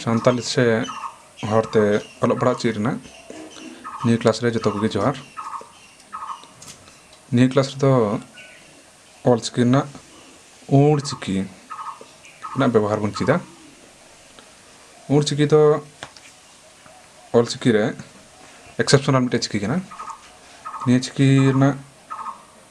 ᱥᱟᱱᱛᱟᱞᱤ ᱥᱮ ᱦᱚᱲᱛᱮ ᱚᱞᱚᱜ ᱯᱟᱲᱦᱟᱜ ᱪᱮᱫ ᱨᱮᱱᱟᱜ ᱱᱤᱭᱟᱹ ᱠᱞᱟᱥ ᱨᱮ ᱡᱚᱛᱚ ᱠᱚᱜᱮ ᱡᱚᱦᱟᱨ ᱱᱤᱭᱟᱹ ᱠᱞᱟᱥ ᱨᱮᱫᱚ ᱚᱞᱪᱤᱠᱤ ᱨᱮᱱᱟᱜ ᱳᱲ ᱪᱤᱠᱤ ᱨᱮᱱᱟᱜ ᱵᱮᱵᱚᱦᱟᱨ ᱵᱚᱱ ᱪᱮᱫᱟ ᱳᱲ ᱪᱤᱠᱤ ᱫᱚ ᱚᱞᱪᱤᱠᱤ ᱨᱮ ᱮᱠᱥᱮᱯᱥᱚᱱᱟᱞ ᱢᱤᱫᱴᱮᱡ ᱪᱤᱠᱤ ᱠᱟᱱᱟ ᱱᱤᱭᱟᱹ ᱪᱤᱠᱤ ᱨᱮᱱᱟᱜ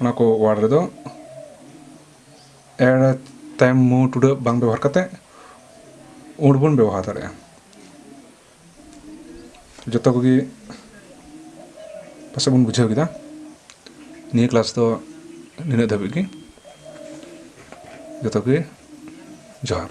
ᱚᱱᱟ ᱠᱚ ᱳᱣᱟᱨᱰ ᱨᱮᱫᱚ ᱮᱲ ᱛᱟᱭᱚᱢ ᱢᱩ ᱴᱩᱰᱟᱹᱜ ᱵᱟᱝ ᱵᱮᱵᱚᱦᱟᱨ ᱠᱟᱛᱮ ᱩᱲ ᱵᱚᱱ ᱵᱮᱵᱚᱦᱟᱨ ᱫᱟᱲᱮᱭᱟᱜᱼᱟ ᱡᱚᱛᱚ ᱠᱚᱜᱮ ᱯᱟᱥᱮᱡ ᱵᱚᱱ ᱵᱩᱡᱷᱟᱹᱣ ᱠᱮᱫᱟ ᱱᱤᱭᱟᱹ ᱠᱞᱟᱥ ᱫᱚ ᱱᱤᱱᱟᱹᱜ ᱫᱷᱟᱹᱵᱤᱡ ᱜᱮ ᱡᱚᱛᱚ ᱜᱮ ᱡᱚᱦᱟᱨ